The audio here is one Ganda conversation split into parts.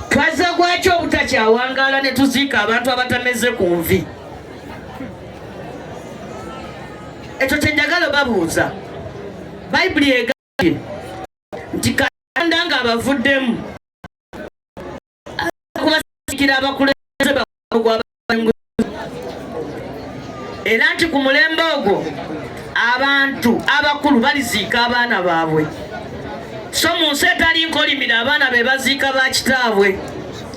twazze gwaki obutakyawangaala ne tuziika abantu abatameze ku nvi ekyo kyenjagala babuuza bayibuli egambye nti katonda nga abavuddemu kubasiikira abakulembeze bagwaba era nti ku mulembe ogwo abantu abakulu baliziika abaana baabwe so mu nsi etali nkolimire abaana be baziika ba kitaabwe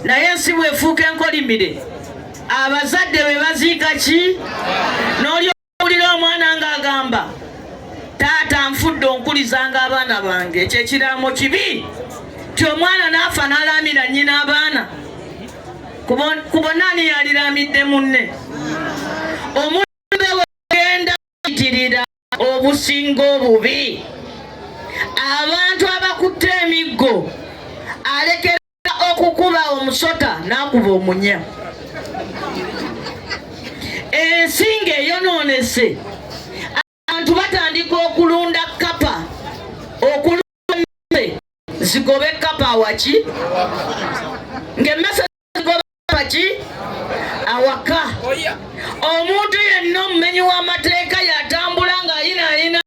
naye ensi bwefuuka enkolimire abazadde be baziika ki nolyo Wulira omwana ng'agamba taata nfudde onkulizanga abaana bange ekyo ekiraamo kibi ti omwana n'afa n'alaamira nnyina abaana ku bonna ani yaliraamidde munne omulembe wegenda itirira obusinga obubi abantu abakutte emiggo alekera okukuba omusota n'akuba omunya ensi ng'eyonoonese abantu batandika okulunda kapa okulunda zigobe kapa awaki ng'emmese zigobe awaki awaka omuntu yenna omumenyi w'amateeka yatambula ng'ayinaayina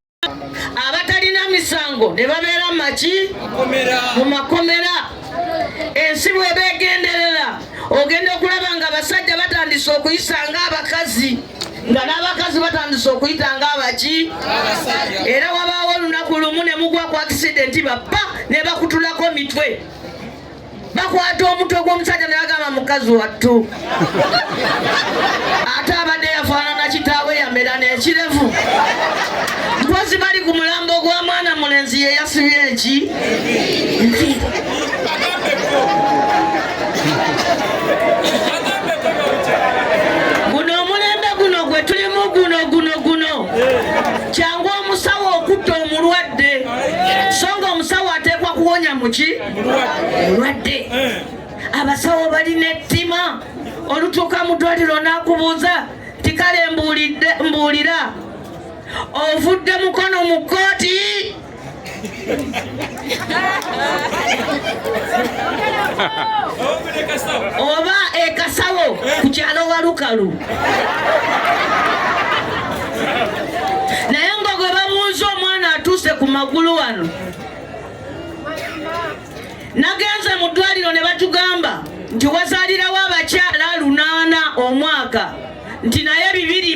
abatalina misango ne babeera maki mu makomera ensi bweba egenderera ogenda okulaba nga abasajja batandise okuyisa nga abakazi nga n'abakazi batandise okuyita nga abaki era wabaawo olunaku lumu ne mugwa ku akisidenti bappa ne bakutulako mitwe bakwata omutwe gw'omusajja ne bagamba mukazi wattu ate abadde yafaanana kitaawe yamera n'ekirevu mpozi bali ku mulambo gwa mwana mulenzi ye yasibye eki guno omulembe guno gwe tulimu guno guno guno kyangu omusawo okutta omulwadde so nga omusawo ateekwa kuwonya muki mulwadde eh. abasawo balina ettima olutuuka mu ddwaliro n'akubuuza tikale mbuulira ovudde mukono mu kkooti oba ekasawo ku kyalo walukalu naye nga gwe bamuuza omwana atuuse ku magulu wano nagenze mu ddwaliro ne batugamba nti wazalirawo abakyala lunaana omwaka nti naye bibiri